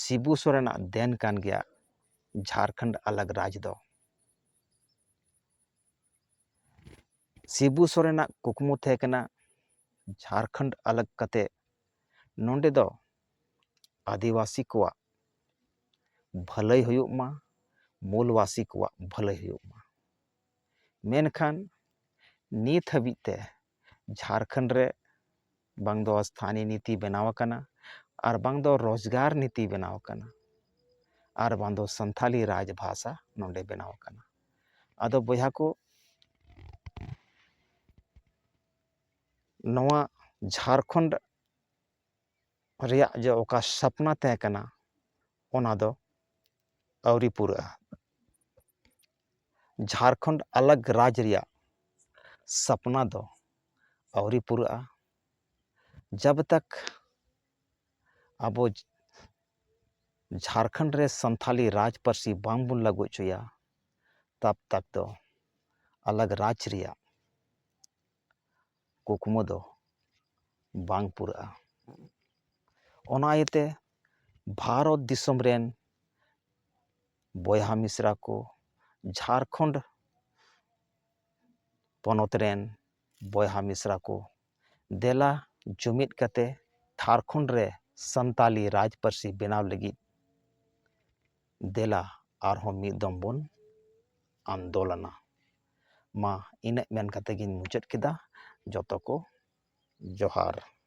ᱥᱤᱵᱩ ᱥᱚᱨᱮᱱᱟᱜ ᱫᱮᱱ ᱠᱟᱱ ᱜᱮᱭᱟ ᱡᱷᱟᱨᱠᱷᱚᱸᱰ ᱟᱞᱟᱜᱽ ᱨᱟᱡᱽ ᱫᱚ ᱥᱤᱵᱩ ᱥᱚᱨᱮᱱᱟᱜ ᱠᱩᱠᱢᱩ ᱛᱟᱦᱮᱸ ᱠᱟᱱᱟ ᱡᱷᱟᱨᱠᱷᱚᱸᱰ ᱟᱞᱟᱜᱽ ᱠᱟᱛᱮ ᱱᱚᱸᱰᱮ ᱫᱚ ᱟᱹᱫᱤᱵᱟᱹᱥᱤ ᱠᱚᱣᱟᱜ ᱵᱷᱟᱹᱞᱟᱹᱭ ᱦᱩᱭᱩᱜ ᱢᱟ ᱢᱩᱞᱵᱟᱹᱥᱤ ᱠᱚᱣᱟᱜ ᱵᱷᱟᱹᱞᱟᱹᱭ ᱦᱩᱭᱩᱜ ᱢᱟ ᱢᱮᱱᱠᱷᱟᱱ ᱱᱤᱛ ᱦᱟᱹᱵᱤᱡ ᱛᱮ ᱡᱷᱟᱲᱠᱷᱚᱸᱰ ᱨᱮ ᱵᱟᱝ ᱫᱚ ᱥᱛᱷᱟᱱᱤ ᱱᱤᱛᱤ ᱵᱮᱱᱟᱣ ᱟᱠᱟᱱᱟ ᱟᱨ ᱵᱟᱝ ᱫᱚ ᱨᱳᱡᱽᱜᱟᱨ ᱱᱤᱛᱤ ᱵᱮᱱᱟᱣ ᱟᱠᱟᱱᱟ ᱟᱨ ᱵᱟᱝ ᱫᱚ ᱥᱟᱱᱛᱷᱟᱞᱤ ᱨᱟᱡᱽ ᱵᱷᱟᱥᱟ ᱱᱚᱸᱰᱮ ᱵᱮᱱᱟᱣ ᱟᱠᱟᱱᱟ ᱟᱫᱚ ᱵᱚᱭᱦᱟ ᱠᱚ ᱱᱚᱣᱟ ᱡᱷᱟᱲᱠᱷᱚᱸᱰ ᱨᱮᱭᱟᱜ ᱡᱮ ᱚᱠᱟ ᱥᱟᱯᱱᱟ ᱛᱟᱦᱮᱸ ᱠᱟᱱᱟ ᱚᱱᱟ ᱫᱚ ᱟᱹᱣᱨᱤ ᱯᱩᱨᱟᱹᱜᱼᱟ ᱡᱷᱟᱲᱠᱷᱚᱸᱰ ᱟᱞᱟᱜᱽ ᱨᱟᱡᱽ ᱨᱮᱭᱟᱜ ᱥᱟᱯᱱᱟ ᱫᱚ ᱟᱹᱣᱨᱤ ᱯᱩᱨᱟᱹᱜᱼᱟ ᱡᱟᱵᱽ ᱛᱟᱠ ᱟᱵᱚ ᱡᱷᱟᱲᱠᱷᱚᱸᱰ ᱨᱮ ᱥᱟᱱᱛᱟᱲᱤ ᱨᱟᱡᱽ ᱯᱟᱹᱨᱥᱤ ᱵᱟᱝ ᱵᱚᱱ ᱞᱟᱹᱜᱩ ᱦᱚᱪᱚᱭᱟ ᱛᱟᱵᱽ ᱛᱟᱠ ᱫᱚ ᱟᱞᱟᱜᱽ ᱨᱟᱡᱽ ᱨᱮᱭᱟᱜ ᱠᱩᱠᱢᱩ ᱫᱚ ᱵᱟᱝ ᱯᱩᱨᱟᱹᱜᱼᱟ ᱚᱱᱟ ᱤᱭᱟᱹᱛᱮ ᱵᱷᱟᱨᱚᱛ ᱫᱤᱥᱚᱢ ᱨᱮᱱ ᱵᱚᱭᱦᱟ ᱢᱤᱥᱨᱟ ᱠᱚ ᱡᱷᱟᱲᱠᱷᱚᱸᱰ ᱯᱚᱱᱚᱛ ᱨᱮᱱ ᱵᱚᱭᱦᱟ ᱢᱤᱥᱨᱟ ᱠᱚ ᱫᱮᱞᱟ ᱡᱩᱢᱤᱫ ᱠᱟᱛᱮ ᱡᱷᱟᱲᱠᱷᱚᱸᱰ ᱨᱮ ᱥᱟᱱᱛᱟᱲᱤ ᱨᱟᱡᱽ ᱯᱟᱹᱨᱥᱤ ᱵᱮᱱᱟᱣ ᱞᱟᱹᱜᱤᱫ ᱫᱮᱞᱟ ᱟᱨᱦᱚᱸ ᱢᱤᱫ ᱫᱚᱢ ᱵᱚᱱ ᱟᱱᱫᱳᱞᱚᱱᱟ ᱢᱟ ᱤᱱᱟᱹᱜ ᱢᱮᱱ ᱠᱟᱛᱮᱫ ᱜᱤᱧ ᱢᱩᱪᱟᱹᱫ ᱠᱮᱫᱟ ᱡᱚᱛᱚ ᱠᱚ ᱡᱚᱦᱟᱨ